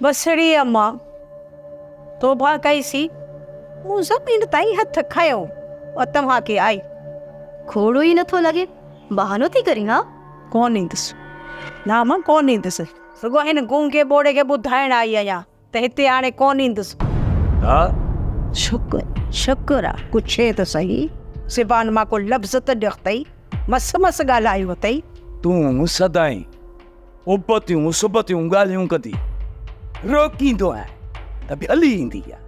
وسري امان توبهه ڪئي سي، مون زمين تائين هٿ کنيو ۽ توهان کي آئي. کوڙو ئي نٿو لڳي، بهانو ٿي ڪرين ها. ڪونه ايندس نا امان ڪونه ايندس، رڳو هن گونگي ٻوڙي کي ٻڌائڻ آئي آهيان ته هتي هاڻي ڪونه ايندس. ها شڪر شڪر آ پڇي ته سهي، زبان مان ڪو لفظ ته نڪتئي، مس مس ڳالهايو اٿئي. تون سدائين ابتيون اسبتيون ڳالهيون ڪندي روڪيندو آهيان ته به هلي ايندي آهي.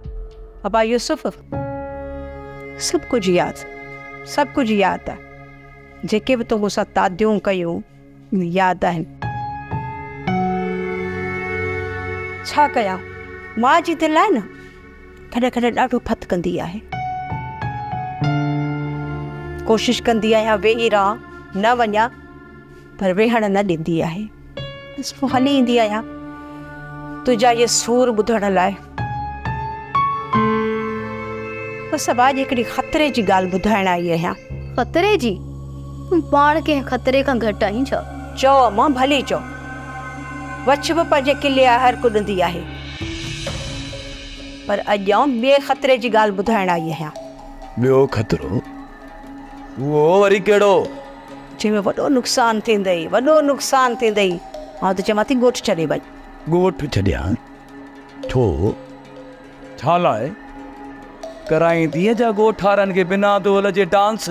ابا يوسف، سڀ ڪجهه ياد، سڀ ڪجهه ياد آهي. جيڪي به تو مون سان تاديون ڪيون، ياد آهن. ڇا ڪيان، ماء جي دل آهي نه، ڪڏهن ڪڏهن ڏاڍو ڦٿ ڪندي آهي. ڪوشش ڪندي آهيان ويهي رهان، نه وڃان. پر ويهڻ نه ڏيندي آهي. بس پوء هلي ايندي آهيان تنهنجا اهي سور ٻڌڻ لاء. بس ابا اڄ هڪڙي خطري جي ڳالهه ٻڌائڻ آئي آهيان. خطري جي؟ تون پاڻ ڪنهن خطري کان گهٽ آهين ڇا؟ چئو امان ڀلي چئو. وڇ به پنهنجي قلعي آهر ڪڏندي آهي. پر اڄ آئون ٻئي خطري جي ڳالهه ٻڌائڻ آئي آهيان. ٻيو خطرو؟ اهو وري ڪهڙو؟ چيو وڏو نقصان ٿيندئي وڏو نقصان ٿيندئي آئون ته چوان ٿي ڳوٺ ڇڏي وڃ. ڳوٺ ڇڏيان ڇو؟ ڇالاء ڪرائيندينء جا ڳوٺارن کي بنا دول جي ڊانس.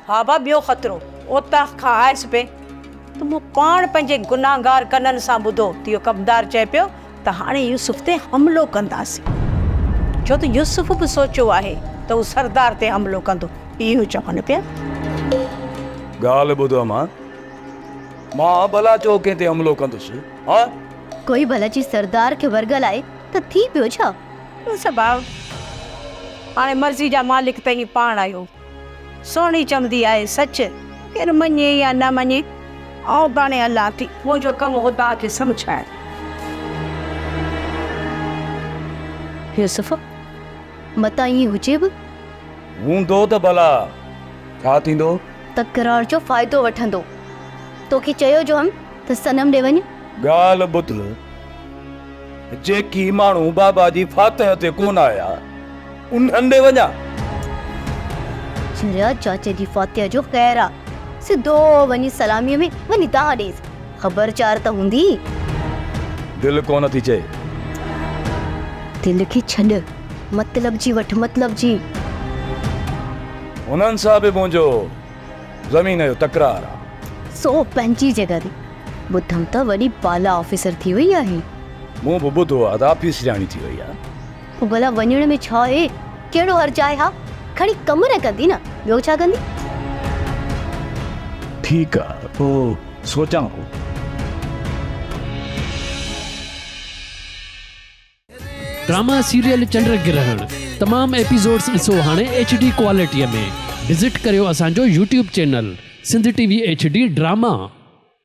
ها ڀاء ٻيو خطرو اوطاق کان آيس پئي ته مون پاڻ پنهنجي گناهگار ڪنن سان ٻڌو ته اهو ڪپدار چئي پيو ته هاڻي يوسف تي حملو ڪنداسين، ڇو ته يوسف به سوچيو آهي ته هو سردار تي حملو ڪندو، اهو چون پيا. ڳالهه ٻڌ امان، مان ڀلا ڇو ڪنهن تي حملو ڪندس، هان؟ ڪوئي ڀلا جي سردار کي ورغلائي ته ٿي پيو ڇا؟ يوسف ڀاء، هاڻي مرضي جا مالڪ ته هي پاڻ آهيو. سهڻي چوندي آهي سچ، ڪير مڃي يا نه مڃي، آئون پاڻهي هلان ٿي. منهنجو ڪم هو توهان کي سمجهائڻ. يوسف، متان ائين هجي به. هوندو ته ڀلا ڇا ٿيندو؟ تڪرار جو فائدو وٺندو. توکي چيو جو هم ته صنم ڏي وڃ. ڳالهه ٻڌ، جيڪي ماڻهو بابا جي فاتح تي ڪونه آيا. انهن ڏي وڃان. سنڌيا چاچي جي فاتحه جو خير آ. سڌو وڃي سلاميء ۾ وڃي دانهن ڏيس. خبر چار ته هوندي. دل ڪونه ٿي چئي. دل کي ڇڏ. مطلب جي وٺ مطلب جي. هنن سان به منهنجو زمين جو تڪرار آ. سو پنهنجي جڳهه تي. ٻڌم ته وڏي بالا آفيسر ٿي وئي آهين. مون به ٻڌو آ ته آفيسرياڻي ٿي وئي آ. هو ڀلا وڃڻ ۾ ڇا اهي ڪهڙو حرج آهي ها کڻي ڪم نه ڪندي نه ٻيو ڇا ڪندي. ٺيڪ آ پو سوچان ٿو. ڊراما سيريل چنڊ گرهڻ تمام ايپيسوڊز ڏسو هاڻي ايڇ ڊي ڪوالٽيء ۾ وزٽ ڪريو اسان جو YouTube channel Sindh T V H D drama.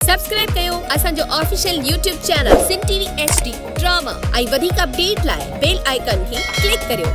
Subscribe ڪيو اسان جو official YouTube channel Sindh T V H D drama ۽ وڌيڪ اپڊيٽ لاء بيل آئيڪان کي ڪلڪ ڪريو.